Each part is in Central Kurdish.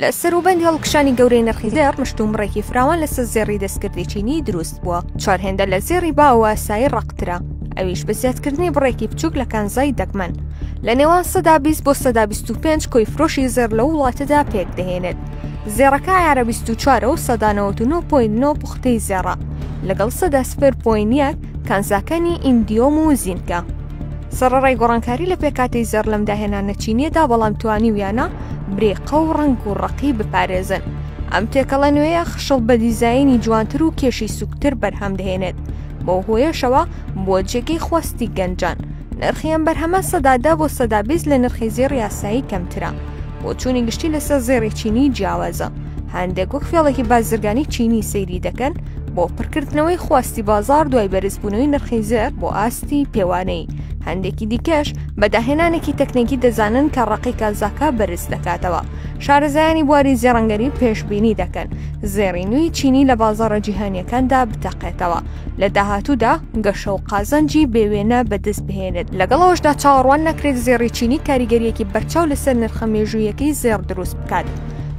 لە سەروبەند هەڵکشانی گەورەی نرخی زێڕ، مشتومڕێکی فراوان لەسەر زێڕی دەستکردی چینی دروست بووە، چوار هێندە لە زێڕی باو و ئاسایی ڕەقترە، ئەویش بە زیادکردنی بڕێکی بچووک لە کانزای دەگمەن. لە نێوان سەدا بیست بۆ سەدا بیست و پێنج کۆی فرۆشی زێڕ لەو وڵاتەدا پێکدەهێنێت. زێڕەکە عەیارە بیست و چوار و سەدا نەوەد و نۆ پۆینت نۆ پوختەی زێڕە، لەگەڵ سەدا سفر پۆینت یەک کانزاکانی ئیندیۆم و زینکە. سەڕەڕای گۆڕانکاری لە پێکاتەی زێڕ لەم داهێنانە چینیەدا بەڵام توانیویانە برێقە و ڕنگ و ڕقی بپارێزن ئەم تێکەڵە نوێیە خشڵ بە دیزایانی جوانتر و کێشی سوکتر بەرهەم دەهێنێت بۆ هۆیەشەوە بۆ جێگەی خواستی گەنجان نرخیان بەرهەمە سەدادا بۆ سەدا بیست لە نرخی زێڕ یاسایی کەمترە بۆ چوونی گشتی لەسەر زێڕی چینی جیاوازە هەندێک وەک فێڵێکی بازرگانی چینی سەیری دەکەن بۆ پڕکردنەوەی خواستی بازار دوای بەرزبوونەوەی نرخی زێر بۆ ئاستی پێوانەی هەندێکی دیکەش بە داهێنانێکی تەکنێکی دەزانن کە ڕقی کازاکە بەرز دەکاتەوە شارەزایانی بواری زێڕەنگەری پێشببینی دەکەن زێڕی نوی چینی لە بازارە جیهانیەکاندا بتەقێتەوە لە داهاتوودا گەشە و قازانجی بێوێنە بەدەست بهێنێت لەگەڵەوەشدا چاوەڕوان نەکرێت زێڕی چینی کاریگەریەکی بەرچاو لەسەر نرخە مێژوویەکەی زێڕ دروست بکات.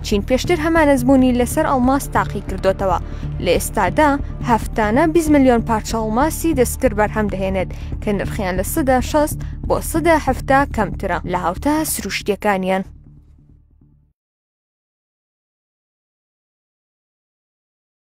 چین پێشتر هەمان ئەزموونی لەسەر ئەڵماس تاقی کردۆتەوە، لە ئێستادا هەفتانە بیست ملیۆن پارچە ئەڵماسی دەستکرد بەرهەم دەهێنێت کە نرخیان لە سەدا شەست بۆ سەدا حەفتا کەمترە لە هاوتا سروشتییەکانیان.